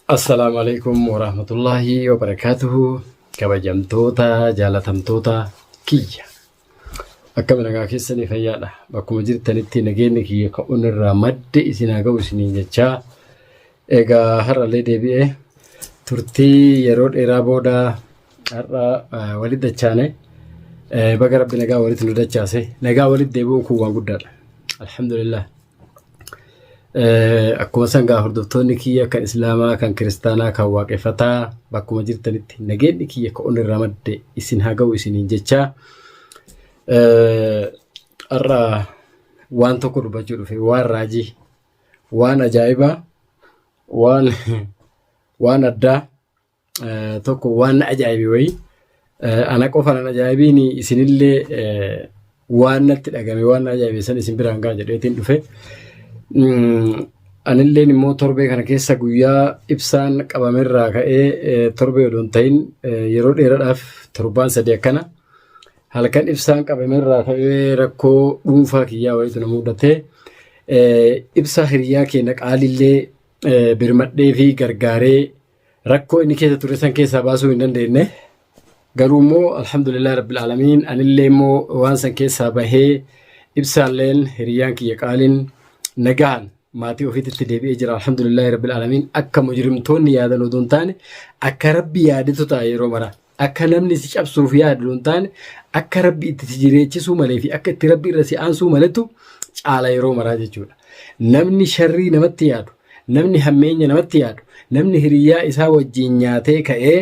Assalaamu alaikum warahmatullaahi wabarakaatuhu kabajamtoota jaalatamtoota kiyya akkami nagaa keessanii fayyaadha bakkuma jirtanitti nageenyi kiyya ka'uun irraa madde isin haa ga'u isiniin jechaa egaa har'allee deebi'ee turtii yeroo dheeraa booda har'a eh, walitti dachaane Eh, baga rabbi nagaa walitti nu dachaase nagaa walitti deebi'uun kun waan guddaadha alhamdulillah Akkuma san gaa hordoftoonni kiyya kan Islaamaa, kan Kiristaanaa, kan Waaqeffataa bakkuma jirtanitti nageenyi kiyya kan onnirraa madde isin haa ga'u isiniin jechaa. Har'a waan tokko dubbachuu dhufe waan raajii, waan ajaa'ibaa, waan waan addaa tokko waan na ajaa'ibe wayii ana qofa nan ajaa'ibiin isinillee waan natti dhagame waan na ajaa'ibe san isin biraan ga'a jedheetiin dhufe. Anilleen immoo torbee kana keessa guyyaa ibsaan qabamerraa ka'ee torbee odoo hin ta'in yeroo dheeraadhaaf torbaan sadii akkana halkan ibsaan qabamerraa ka'ee rakkoo dhuunfaa kiyyaa wayiitu na mudate. Ibsaa hiriyaa keenya qaalillee birmadhee fi gargaaree Rakkoo inni keessa ture san keessaa baasuu hin dandeenye. Garuu immoo alhamdulillah rabbil aalamiin anillee immoo waan san keessaa bahee ibsaalleen hiriyyaan kiyya qaaliin nagaan maatii ofiititti deebi'ee jira alhamdulillah rabbil aalamiin akka mujrimtoonni yaadan odoo hin taane akka rabbi yaadetu ta'a yeroo maraa. Akka namni si cabsuuf yaadu hin taane akka rabbi itti si jireechisuu malee fi akka itti rabbi irra si aansuu maletu caala yeroo maraa jechuudha. Namni sharrii namatti yaadu, namni hammeenya namatti yaadu, namni hiriyyaa isaa wajjin nyaatee ka'ee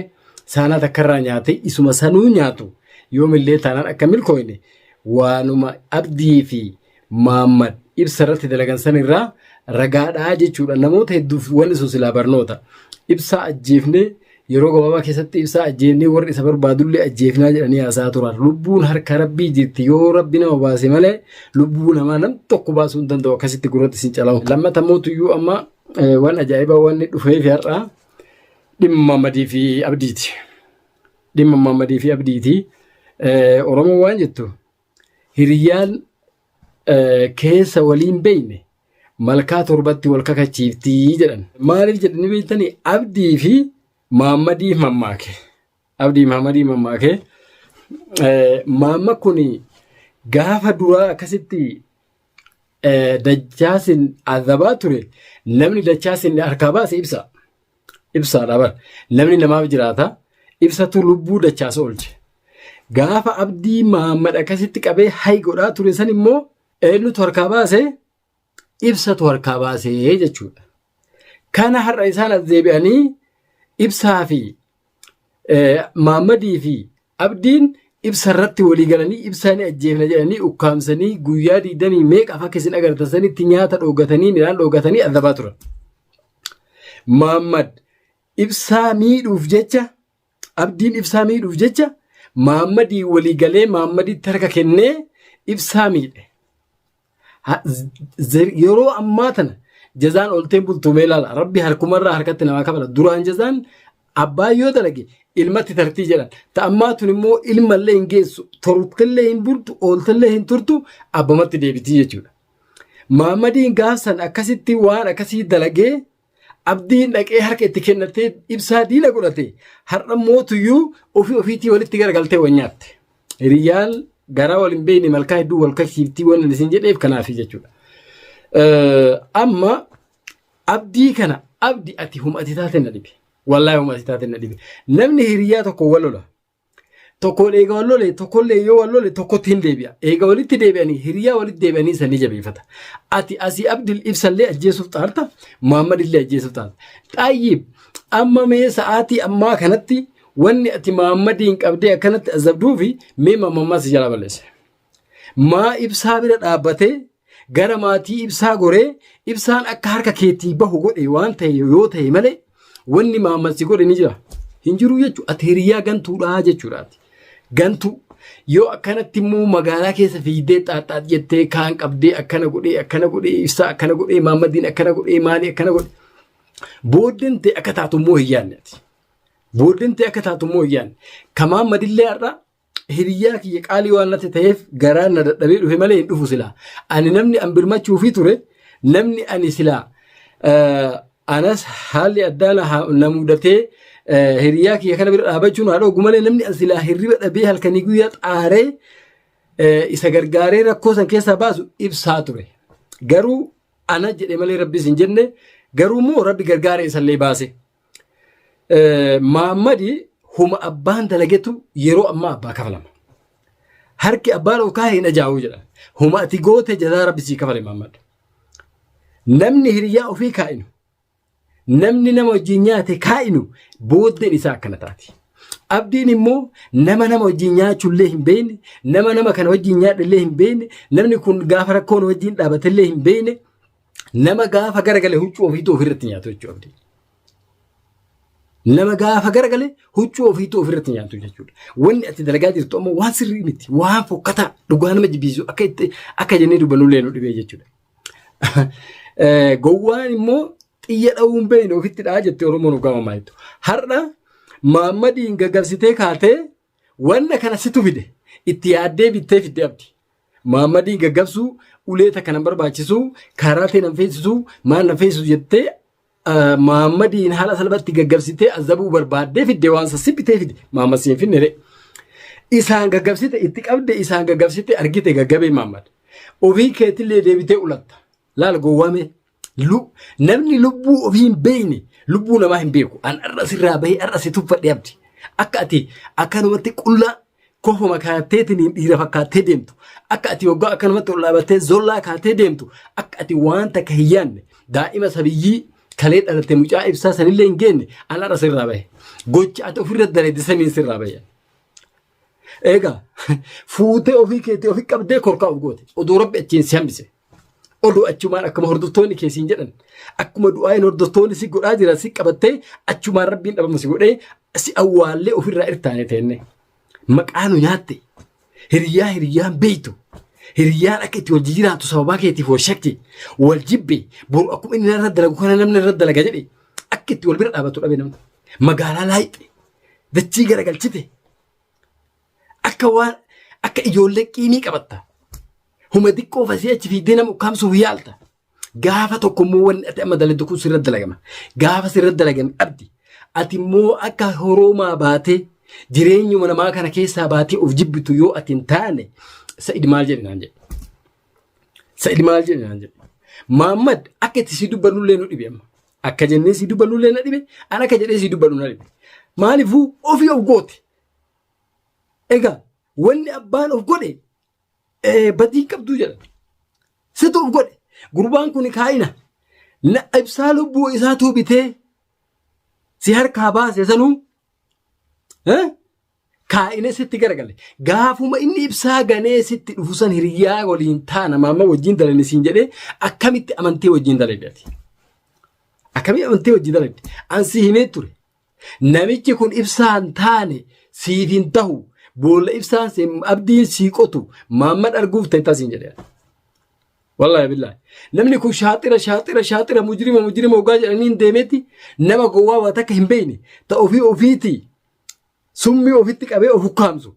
saanaa takkarraa nyaatee isuma sanuu nyaatu yoomillee taanaan akka milkooyne waanuma abdii fi Maammad ibsa irratti dalagan san irraa ragaadhaa jechuudha. Namoota hedduuf wanni sun silaa barnoota. Ibsaa ajjeefnee yeroo gabaabaa keessatti ibsaa ajjeefnee warri isa barbaadullee ajjeefnaa jedhanii haasaa turan. Lubbuun harka rabbii jirti yoo rabbi nama baase malee lubbuu namaa nam tokko baasuu hin danda'u akkasitti gurratti sin calamu. Lammata mootuyyuu amma waan ajaa'ibaa wanni dhufee fi har'aa dhimma madii fi abdiiti. Dhimma madii fi abdiiti. Oromoo waan jettu Hiriyyaan keessa waliin beeyne malkaa torbatti wal kakachiiftii jedhan. Maaliif jedhanii beektanii Abdii fi Maammadii mammaake. Abdii Maammadii mammaake. Maamma kun gaafa duraa akkasitti dachaasin azabaa ture namni dachaasin harkaa baase ibsa. Ibsaadha bar. Namni namaaf jiraata. Ibsatu lubbuu dachaas oolche. Gaafa abdii Mahammad akkasitti qabee hay godhaa ture san immoo eenyutu harkaa baase? Ibsatu harkaa baase jechuudha. Kana har'a isaan as deebi'anii ibsaa fi Maammadii fi Abdiin ibsa irratti walii galanii ibsaa ni ajjeefna jedhanii ukkaamsanii guyyaa digdamii meeqa fakki isin agartan sanitti nyaata dhoogatanii midhaan dhoogatanii adabaa turan. Maammad ibsaa miidhuuf jecha abdiin ibsaa miidhuuf jecha maammadii walii galee maammaditti harka kennee ibsaa miidhe. Ha- z- z- Yeroo ammaa tana jazaan oltee bultumee laala. Rabbi harkumarraa harkatti namaa kabala. Duraan jazaan abbaa yoo dalage ilmatti tartii jedhan. Ta ammaa tun immoo ilmallee hin geessu. Tortillee hin bultu, ooltillee hin turtu, abbamatti deebitii jechuudha. Maammadiin gaafsan akkasitti waan akkasii dalagee Abdiin dhaqee harka itti kennattee ibsaa diina godhate har'a mootuyyuu ofii ofiitii walitti garagaltee wal nyaatte. Hiriyyaan garaa wal hin beekne malkaa hedduu wal kaksiiftii waan isin jedheef kanaaf jechuudha. Amma abdii kana abdi ati humati taate na dhibe. Wallaahi humati taate na dhibe. Namni hiriyyaa tokko wal lola. Tokkoon eega wal lole tokkollee yoo wal lole tokkotti hin deebi'a. Eega walitti deebi'anii hiriyaa walitti deebi'anii san ni jabeeffata. Ati asii Abdul ibsallee ajjeesuuf xaarta Muhammad illee ajjeesuuf xaarta. Xaayyiib amma mee sa'aatii ammaa kanatti wanni ati Muhammadiin qabdee akkanatti azabduufi mee mamammaa si jalaa balleesse. Maa ibsaa bira dhaabbatee gara maatii ibsaa goree ibsaan akka harka keetii bahu godhe waan ta'e yoo ta'e malee wanni maammalsi godhe ni jira. Hin jiru jechuudha. Ati hiriyaa gantuudhaa jechuudhaati. Gantuu. Yoo akkanatti immoo magaalaa keessa fiigdee xaaxxaax jettee kaan qabdee akkana godhee akkana godhee ibsaa akkana godhee maammaddiin akkana godhee maalii akkana godhe. Booddeen ta'e akka taatu immoo hin yaadne ati. Booddeen ta'e akka taatu immoo hin yaadne. Ka maammadillee har'a hiriyyaa kiyya qaalii waan natti ta'eef garaan na dadhabee dhufe malee hin dhufu silaa. Ani namni an birmachuufii ture namni ani silaa eh, anas haalli addaa na ha- na mudatee eh, hiriyyaa kiyya kana bira dhaabachuun haa dhoogu malee namni an silaa hirriba dhabee halkanii guyyaa xaaree eh, isa gargaaree rakkoo san keessaa baasu ibsaa ture. Garuu ana jedhe malee rabbis hin jenne garuu immoo rabbi gargaaree isallee baase. Maammadi huma abbaan dalagetu yeroo ammaa abbaa kafalama. Harki abbaa loo kaa'e hin ajaa'uu jedhan. Huma ati goote jazaa rabbi sii kafale maammad. Namni hiriyaa ofii kaa'inu namni nama wajjin nyaate kaa'inu booddeen isaa akkana taati. Abdiin immoo nama nama wajjin nyaachuullee hin beekne, nama nama kana wajjin nyaadhallee hin beekne, namni kun gaafa rakkoon wajjin dhaabatellee hin beekne, Nama gaafa garagale huccuu ofiitu ofirratti nyaatu jechuudha abdii. Nama gaafa garagale huccuu ofiitu ofirratti nyaatu jechuudha. Wanni ati dalagaa jirtu ammoo waan sirrii miti. Waan fokkataa dhugaa nama jibbiisu akka itti akka jennee dubbannu illee nu dhibee jechuudha. Eh, Gowwaan immoo xiyya dha'uun beeyne ofitti dha'a jettee Oromoon dhugaa mamaa jettu. Har'a Maammadiin gaggabsitee kaatee Wanna kana situ fide itti yaaddee bittee fidde abdi. Maammadiin gaggabsuu ulee takka nan barbaachisu kaaraatee nan feesisu maal nan feesisu jettee ah, maammadiin haala salphatti gaggabsitee azabuu barbaaddee fidde waan sassi bitee fide maammad siin finne ree. Isaan gaggabsite itti qabde isaan gaggabsite argite gaggabee maammad. Ofii keetillee deebitee ulatta. Laal gowwaa mee. Lu- Namni lubbuu ofii hin beekne lubbuu namaa hin beeku. An har'a sirraa bahee har'a si tuffadhee abdi. Akka ati akkanumatti qullaa kofuma kaatteetiin dhiira fakkaattee deemtu. Akka ati waggaa akkanumatti ol dhaabattee zollaa kaatee deemtu. Akka ati waan takka hin yaadne daa'ima sabiyyii kalee dhalatte mucaa ibsaa sanillee hin geenne an har'a sirraa bahe. Gocha ati ofirra daleedde saniin sirraa bahe. Egaa fuutee ofii keetii ofii qabdee korkaa'u goote oduu rabbi achiin si hambise. Oduu achumaan akkuma hordoftoonni kee siin jedhan akkuma du'aayin hordoftoonni si godhaa jiran si qabattee achumaan rabbiin dhabama si godhee si awwaallee ofirraa irtaane teenne. Maqaa nu nyaatte hiriyaa hiriyaan beeytu hiriyaan akka itti wal jijjiiraatu sababaa keetiif wal shakki wal jibbe boru akkuma inni irra dalagu kana namni irra dalaga jedhe akka itti wal bira dhaabatu dhabe namni magaalaa laayxe dachii garagalchite akka waan akka ijoollee qiinii qabatta huma xiqqoo fasii achi fiiddee nama ukkaamsuuf yaalta gaafa tokko immoo wanni ati amma daladdu kun sirra dalagama gaafa sirra dalagame abdi ati immoo akka horoomaa baatee jireenyuma namaa kana keessaa baatee of jibbitu yoo ati hin taane sa'id maal jedhe naan jedhe sa'id maal jedhe naan jedhe maammad akka itti si dubbannullee nu dhibe amma Akka jennee sii dubbannu illee na dhibe. An akka jedhee sii dubbannu na dhibe. Maaliifuu ofii of goote. Egaa wanni abbaan of godhe eh, badii hin qabduu jedha. Situ of godhe. Gurbaan kun kaa'ina. Na ibsaa lubbuu isaatu bitee si harkaa baase sanuu Eh? Kaa'inee sitti garagale. Gaafuma inni ibsaa ganee sitti dhufu san hiriyaa waliin taana maama wajjin dalani siin jedhee akkamitti amantee wajjin dalagde ati? Akkamitti amantee wajjin dalagde? An si himee ture. Namichi kun ibsaan taane siif hin tahu. Boolla ibsaan seen abdiin sii qotu maamman arguuf ta'e tasiin jedhee. Wallahi billahi. Namni kun shaaxira shaaxira shaaxira mujrima mujrima ogaa jedhanii hin deemetti nama gowwaa waa takka hin beekne ta ofii ofiiti summii ofitti qabee of ukkaamsu.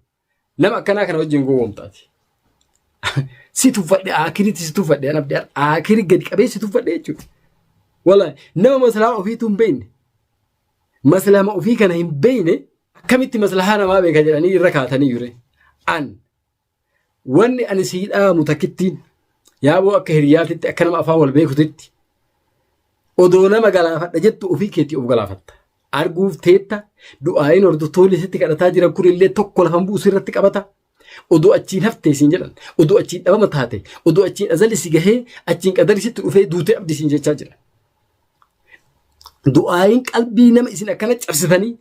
Nama akkanaa kana wajjin gowwoomtaati. Si tuffadhe aakiritti si tuffadhe an abdii aakiri gadi qabee si tuffadhe jechuudha. Wallahi nama maslahaa ofiitu hin beekne. Maslahaa ofii kana hin beekne akkamitti maslahaa namaa beeka jedhanii irra kaatanii jure. An Wanni ani sii dhaamu takkittiin yaaboo akka hiriyaatitti akka nama afaan wal beekutitti odoo nama galaafadha jettu ofii keetii of galaafatta. Arguuf teetta du'aayin hordoftoonni sitti kadhataa jiran kun illee tokko lafan bu'u sirratti qabata. Odoo achiin haftee siin jedhan, odoo achiin dhabama taate, odoo achiin azali si gahee, achiin qadari sitti dhufee duutee abdi siin jechaa jira. du'aayin qalbii nama isin akkana cabsitanii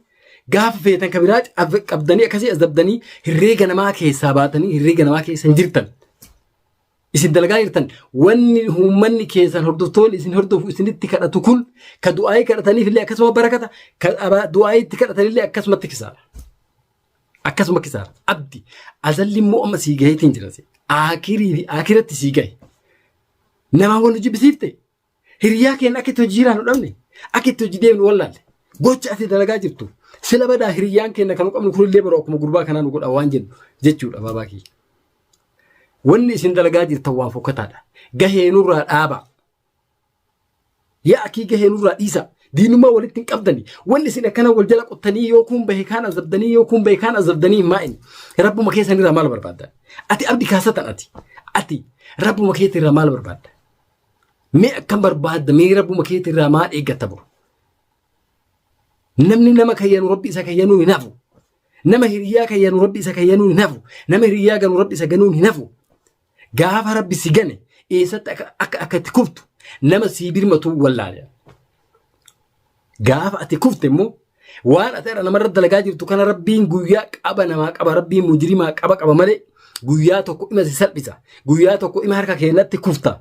gaafa feetan ka biraa cab- qabdanii akkasii azabdanii herreega namaa keessaa baatanii herreega namaa keessa hin jirtan. Isin dalagaa jirtan wanni uummanni keessan hordoftoonni isin hordofu isinitti kadhatu kun ka du'aayii kadhataniif illee akkasuma barakata ka abaa- du'aayii itti kadhatan illee akkasuma itti kisaara. Akkasuma kisaara. Abdi azalli immoo amma sii gaheetiin jiran. Akirii fi akiratti sii gahe. Namaa wal nu jibbisiifte. Hiriyaa keenya akka itti hojii jiraannu dhabne, akka itti hojii deemnu wallaalle. Gocha ati dalagaa jirtu sila badaa hiriyaan keenya kan qabnu kunillee bara akkuma gurbaa kanaa nu godha waan jennu jechuudha baabaa kiyya. Wanni isin dalagaa jirtan waan fokkataadha. Gahee nurraa dhaaba. Yaa akii gahee nurraa dhiisa. Diinummaa walitti hin qabdani. Wanni isin akkana wal jala qottanii yoo kun bahe kaan azabdanii yoo kun bahe kaan azabdanii hin maa'in. Rabbuma keessan irraa maal barbaadda? Ati abdi kaasatan ati. Ati rabbuma keetti irraa maal barbaadda? Mee akkam barbaadda mee rabbuma keetii irraa maal eeggatta buru? Namni nama kayyanu rabbi isa kayyanuu hin hafu. Nama hiriyaa kayyanu rabbi isa kayyanuu hin hafu. Nama hiriyaa ganu rabbi isa ganuun hin hafu. Gaafa rabbi si gane eessatti akka akka itti kuftu nama sii birmatu wallaale. Gaafa ati kufte immoo waan ati irra namarra dalagaa jirtu kana rabbiin guyyaa qaba namaa qaba rabbiin mujrimaa qaba qaba malee guyyaa tokko ima si salphisa guyyaa tokko ima harka keenyatti kufta.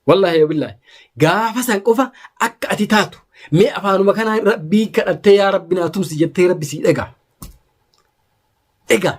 Wallaahi yoo billaahi gaafa san qofa akka ati taatu mee afaanuma kanaa rabbii kadhattee yaa rabbi naa tumsi jettee rabbi sii dhagaa. Egaa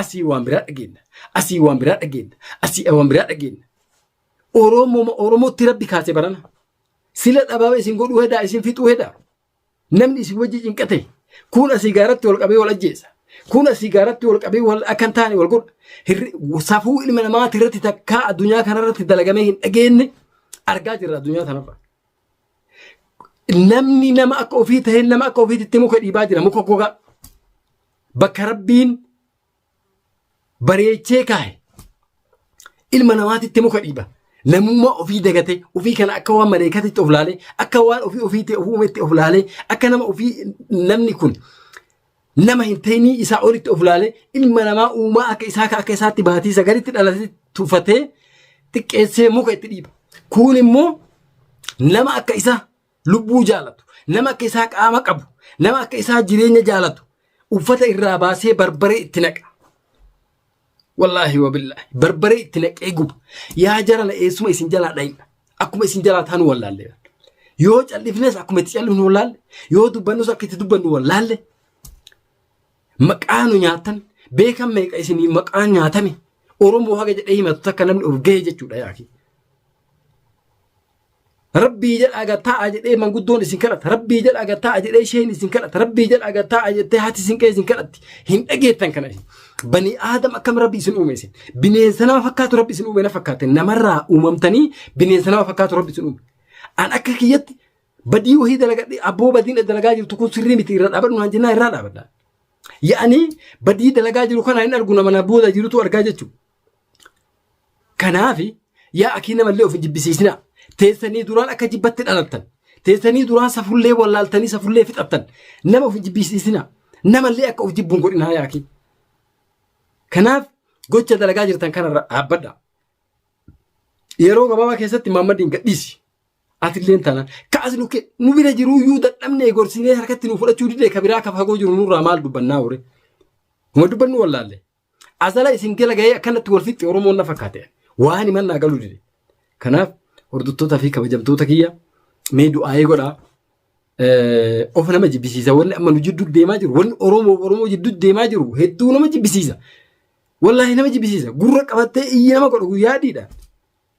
Asii waan biraa dhageenna. Asii waan biraa dhageenna. Asii waan biraa dhageenna. Oromoo Oromootti rabbi kaase barana. Sila dhabaaba isin godhuu hedaa isin fixuu hedaa. Namni isin wajji cinqate kun asii gaaratti wal qabee wal ajjeesa. Kun asii gaaratti wal qabee wal akka hin taane wal godha. Hirri- Safuu ilma namaati irratti takkaa addunyaa kanarratti dalagamee hin dhageenye argaa jirra addunyaa kanarra. Namni nama akka ofii ta'e nama akka ofiitti muka dhiibaa jira muka gogaa. bakka rabbiin bareechee kaahe ilma namaatitti muka dhiiba. Namummaa ofii dagatee ofii kana akka waan maleekatitti of laalee akka waan ofii ofiitti of uumetti of laalee akka nama ofii namni kun nama hin ta'inii isaa olitti of laalee ilma namaa uumaa akka isaa akka isaatti baatii sagalitti dhalatee tuffatee xiqqeessee muka itti dhiiba. Kun immoo nama akka isaa lubbuu jaalatu, nama akka isaa qaama qabu, nama akka isaa jireenya jaalatu uffata irraa baasee barbaree itti naqa. Wallaahi wabillaahi barbaree itti naqee guba. Yaa jarana eessuma isin jalaa dhayna. Akkuma isin jalaa taanu wallaalle. Yoo callifnes akkuma itti callifnu wallaalle. Yoo dubbannus akka itti dubbannu wallaalle. Maqaa nu nyaatan beekan meeqa isin maqaa nyaatame Oromoo haga jedhee himatu takka namni of gahee jechuudha yaaki. Rabbii jedhaa gad taa'a jedhee manguddoon isin kadhata. Rabbii jedhaa gad taa'a jedhee isheen isin kadhata. Rabbii jedhaa gad taa'a jettee haati isin qe'ee isin kadhatti. Hin dhageettan kana isin. Banii aadam akkam rabbi isin uume isin. Bineensa nama fakkaatu rabbi isin uume na fakkaate. Namarraa uumamtanii bineensa nama fakkaatu rabbi isin uume. An akka kiyyatti badii wahii dalagadhe abboo badiin dalagaa jirtu kun sirrii miti irra dhaabadhu naan jennaa irraa dhaabadha. Yaa'anii badii dalagaa jiru kana hin argu nama na booda jirutu argaa jechuudha. Kanaaf yaa akii namallee ofi jibbisiisina. Teessanii duraan akka jibbatti dhalattan. Teessanii duraan safullee wallaaltanii safullee fixattan. Nama ofi jibbisiisina. Namallee akka of jibbuun godhinaa yaa akii. Kanaaf gocha dalagaa jirtan kanarra dhaabbadha. Yeroo gabaabaa keessatti Maammadiin gadhiisi. Atilleen taanaan kaas nu ke- nu bira jiruu iyyuu dadhabnee gorsinee harkatti nu fudhachuu didee ka biraa ka fagoo jiru nurraa maal dubbannaa warri. Huma dubbannu wallaalle. Azala isin jala gahee akkanatti wal fixxe Oromoon na fakkaate. Waan himan naa galuu dide. Kanaaf hordoftoota fi kabajamtoota kiyya mee du'aa'ee godhaa. Of nama jibbisiisa wanni amma nu jidduu deemaa jiru wanni Oromoo Oromoo jidduu deemaa jiru hedduu nama jibbisiisa. Wallaahi nama jibbisiisa gurra qabattee iyyi nama godhu guyyaa adiidha.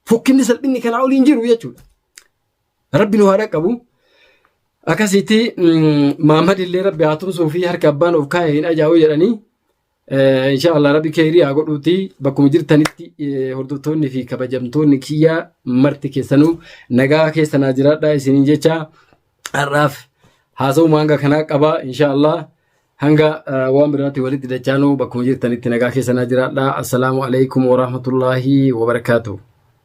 Fokkinni salphinni kanaa olii hin jiru jechuudha. Rabbi nu haa dhaqqabu. Akkasitti Maammad illee rabbi haa tumsuu fi harka abbaan of kaa'e hin ajaa'u jedhanii Eh, Insha Allah rabbi keerii haa godhuuti bakkuma jirtanitti eh, hordoftoonni fi kabajamtoonni kiyyaa marti keessanuu nagaa keessa naa jiraadha isiniin jecha har'aaf haasawuma hanga kanaa qaba insha Allah hanga eh, waan biraatti walitti dachaanuu bakkuma jirtanitti nagaa keessa naa jiraadha assalaamu alaikum warahmatullaahi wabarakaatuh.